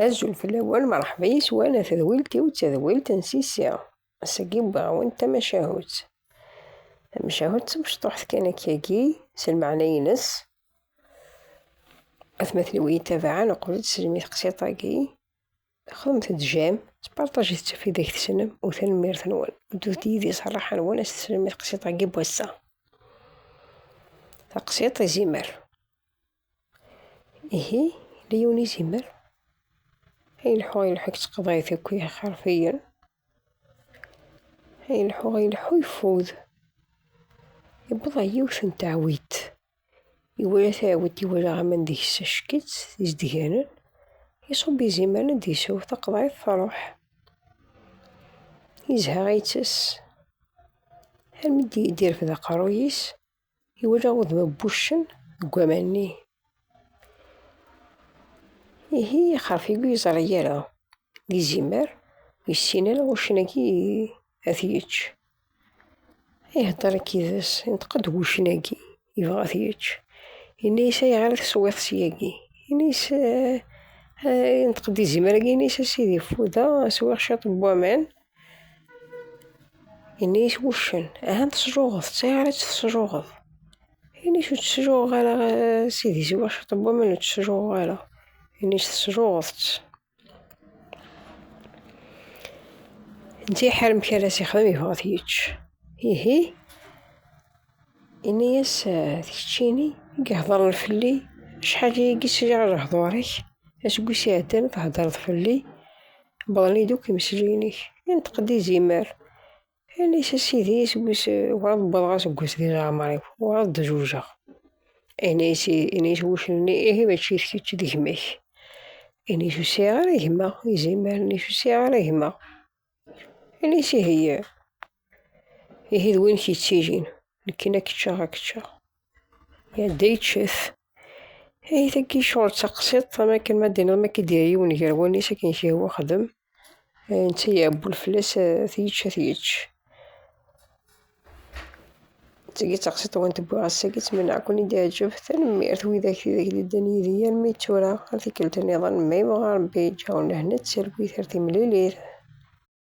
Azul fell-awen, merḥba yes-wen a tadwilt-iw d tadwilt n Sisi. Ass-agi wwiɣ-awen-d tamacahut. Tamacahut d tamecṭuḥt kan akkagi, s lmeɛna-ines. Atmaten-iw iyi-tabɛen uqbel ad teslem i teqsiṭ-agi. Xedmet-d jam, sparṭajet ɣef ideg tessnem u tanemmirt-nwen. Ddut yid-i s rraḥa-nwen ad teslem i teqsiṭ-agi n wass-a. Taqsiṭ izimer. Ihi, Leon izmer ad yelḥu yelḥu deg teqḍayt akk iḥerfiyen, ad yelḥu yelḥu yeffud. Yewweḍ ɣer yiwet n teɛwidt, iwala taɛwidt iwala aman deg-s acek-itt d izedganen, iṣubb izimer ad d-isew taqḍayt truḥ. Yezha itess almi d-yerfed aqerruy-is. Iwala udem n wuccen deg waman-nni. Ihi ixerf-igi ur yeẓri ara, d izimer, ur yessin ara wuccen-agi ad t-yečč. Iheddeṛ akk yid-s, inṭeq-d wuccen-agi, yebɣa ad t-yečč. Yenna-yas ayɣer i teswiḍ syagi? Yenna-yas, inṭeq-d izimer-agi, yenna-yas a sidi, ffudeɣ, swiɣ ciṭ n waman, Ini-as wuccen. Ahan tesluɣeḍ, d tayɣrit tesluɣeḍ. Ini-as ur tt-sluɣeɣ ara a sidi, siwa cwiṭ n waman ur tt-sluɣeɣ ara. Ini-as tesluɣeḍ-tt. Netta iḥar amek ara s-ixdem, yebɣa ad t-yečč. Ihi. Ini-as, D keččini i iheḍren fell-i, acḥal i yi-yesɛiɣ lehḍur-ik, aseggas iɛeddan theddreḍ fell-i, wwḍen-iyi-d akk imesliyen-ik. Inṭeq-d izimer, ini-as, A Sidi, aseggas werɛad wwḍeɣ aseggas di leɛmer-iw, werɛad d-zewǧeɣ. Ini-as wuccen-nni, Ihi mačči d kečč, d gma-k. Ini-as, Ur sɛiɣ ara gma. Izimer, Ini-as, Ur sɛiɣ ara gma. Anis ihi ihi d win k-yettilin nekken ad k-ččeɣ ad k-ččeɣ. Iɛedda yeccef. Ihi tagi ccɣel d taqsiṭ am akken ma d-tiniḍ ma k-id-yerra yiwen gar wallen-is akken k-yehwa xdem, netta yeɛewwel fell-as ad t-yečč ad t-yečč. Seg-i d taqsiṭ-nwent n wass agi ttmenniɣ-ken i d-iɛǧeb. Tanemmirt widak tidak d-iddan yid-i armi d tura. Ar tikkelt-nniḍen, ma yebɣa Rebbi, ǧǧaw-n lehna d talwit ar timlilit.